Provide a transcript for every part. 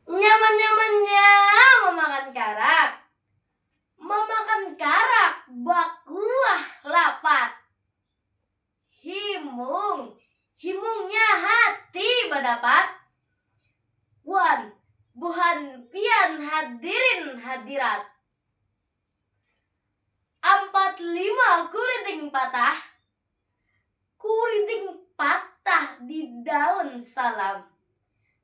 Nyaman-nyamannya mamakan karak Mamakan karak bakuah lapat. Himung, himungnya hati badapat wan buhan pian hadirin hadirat. Ampat lima kuriting patah, kuriting patah di daun salam.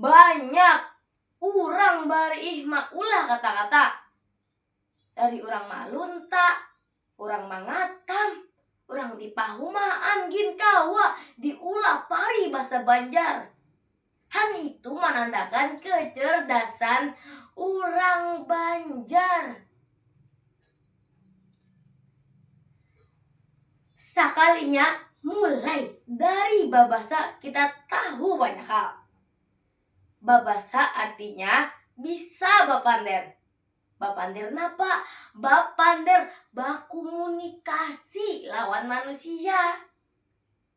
Banyak urang bariih maulah kata-kata, dari urang malunta, urang mangatam, urang dipahumaan gin kawa diulah paribasa banjar, hal itu manandakan kecerdasan urang banjar. Sakalinya mulai dari babasa kita tahu banyak hal. Babasa artinya bisa bapander. Bapander napa? Bapander bakumu-nikasi lawan manusia.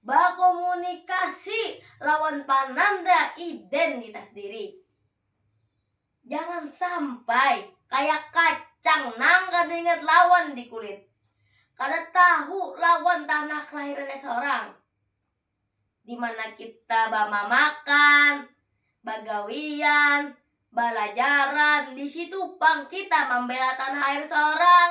Bakomunikasi lawan pananda identitas diri. Jangan sampai kaya kacang nang kada ingat lawan di kulit, kada tahu lawan tanah kelahirannya seorang, di mana kita bamamakan, bagawian, balajaran, di situ pang kita mambela tanah air seorang.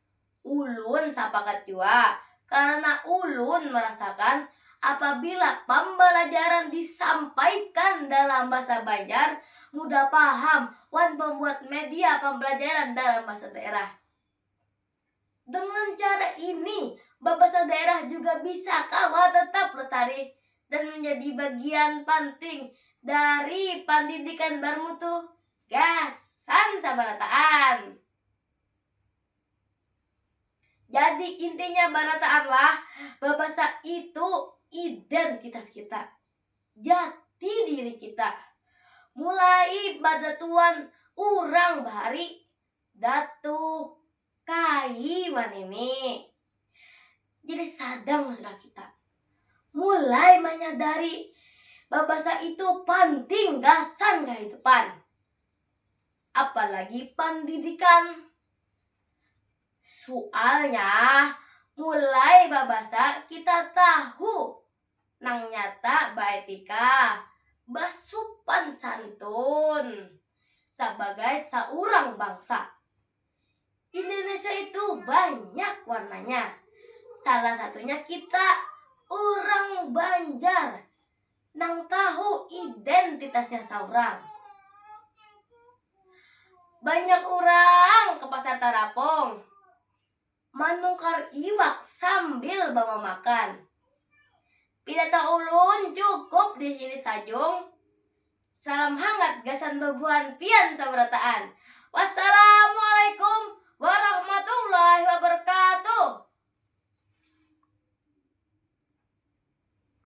Ulun sapakat jua, karena ulun merasakan apabila pambalajaran disampaikan dalam bahasa Banjar mudah paham wan pembuat media pambalajaran dalam bahasa daerah. Dengan cara ini, babasa daerah juga bisa kawa tetap lestari dan menjadi bagian panting dari pandidikan barmutu gasan sabarataan. Jadi intinya barataanlah babasa itu identitas kita. Jati diri kita. Mulai badatuan urang bahari datu kai wanini. Jadi sadang sudah kita. Mulai menyadari babasa itu penting gasan kehidupan. apalagi pandidikan. Sualnya mulai babasa kita tahu nang nyata baetika, basupan santun sabagai saurang bangsa. Indonesia itu banyak warnanya, salah satunya kita urang Banjar. nang tahu identitasnya saurang. Banyak urang ke Pasar Tarapong manukar iwak sambil bamamakan. Pina taulun cukup di sini sajung. Salam hangat gasan babuhan pian sabarataan. Wassalamualaikum warahmatullahi wabarakatuh.